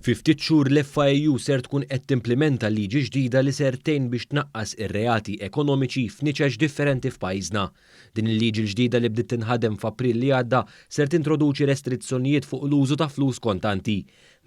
Fi ftit xhur l-FAEU ser tkun qed timplimenta liġi ġdida li ser tgħin biex tnaqqas ir-reati ekonomiċi f'niċeċ differenti f'pajjiżna. Din il-liġi l-ġdida li bdiet tinħadem f'April li għadda ser tintroduċi restrizzjonijiet fuq l-użu ta' flus kontanti.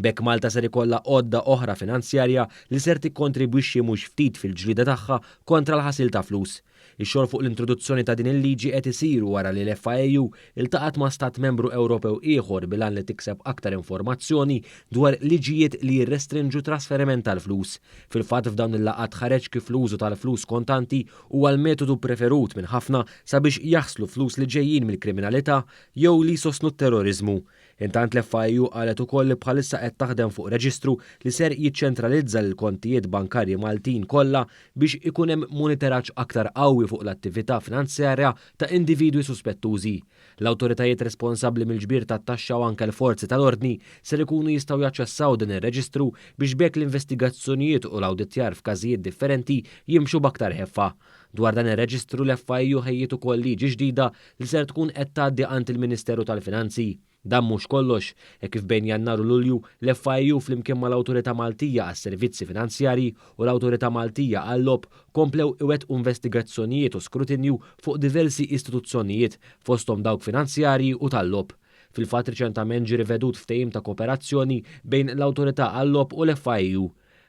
B'hekk Malta ser ikollha għodda oħra finanzjarja li ser tikkontribwixxi mhux ftit fil-ġlieda tagħha kontra l-ħasil ta' flus. Ix-xogħol fuq l-introduzzjoni ta' din il-liġi qed isir wara li l-FAEU ltaqgħet ma' Stat Membru Ewropew ieħor bil-għan li tikseb aktar informazzjoni dwar liġijiet li jirrestrinġu trasferiment tal-flus. Fil-fatt f'dawn il-laqgħat ħareġ kif l-użu tal-flus kontanti huwa l-metodu ppreferut minn ħafna sabiex jaħslu flus li ġejjin mill-kriminalità jew li jsostnu t-terroriżmu. Intant l-FIU qalet ukoll li bħalissa qed taħdem fuq reġistru li ser jiċċentralizza l-kontijiet bankarji Maltin kollha biex ikun hemm moniteraġġ aktar qawwi fuq l-attività finanzjarja ta' individwi suspettużi. L-awtoritajiet responsabbli mill-ġbir tat-taxxa u anke l-forzi tal-ordni ser ikunu jistgħu jaċċessaw din ir-reġistru biex b'hekk l-investigazzjonijiet u l-awditjar f'każijiet differenti jimxu b'aktar ħeffa. Dwar dan ir-reġistru l-FIU ħejjiet ukoll liġi ġdida li ser tkun qed tgħaddi għand il-Ministeru tal-Finanzi. Dan mhux kollox, hekk kif bejn Jannar u Lulju l-FIU flimkien mal-Awtorità Maltija għas-Servizzi Finanzjarji u l-Awtorità Maltija għal-Logħob komplew iwettqu investigazzjonijiet u skrutinju fuq diversi istituzzjonijiet fosthom dawk finanzjarji u tal-logħob. Fil-fatt riċentament ġie rivedut ftehim ta' koperazzjoni bejn l-Awtorità għal-Logħob u l-FIU.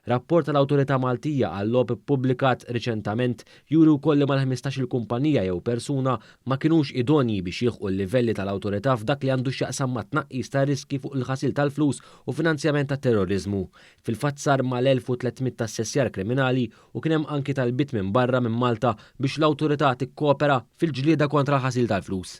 Rapport tal-Awtorità Maltija għal-Logħob ippubblikat riċentament juri wkoll li mal-ħmistax-il kumpanija jew persuna ma kinux idonji biex jilħqu l-livelli tal-Awtorità f'dak li għandu x'jaqsam mat-tnaqqis tar-riskji fuq il-ħasil tal-flus u finanzjament tat-terroriżmu. Fil-fatt sar mal-1300 assessjar kriminali u kien hemm anki talbiet minn barra minn Malta biex l-Awtorità tikkopera fil-ġlieda kontra l-ħasil tal-flus.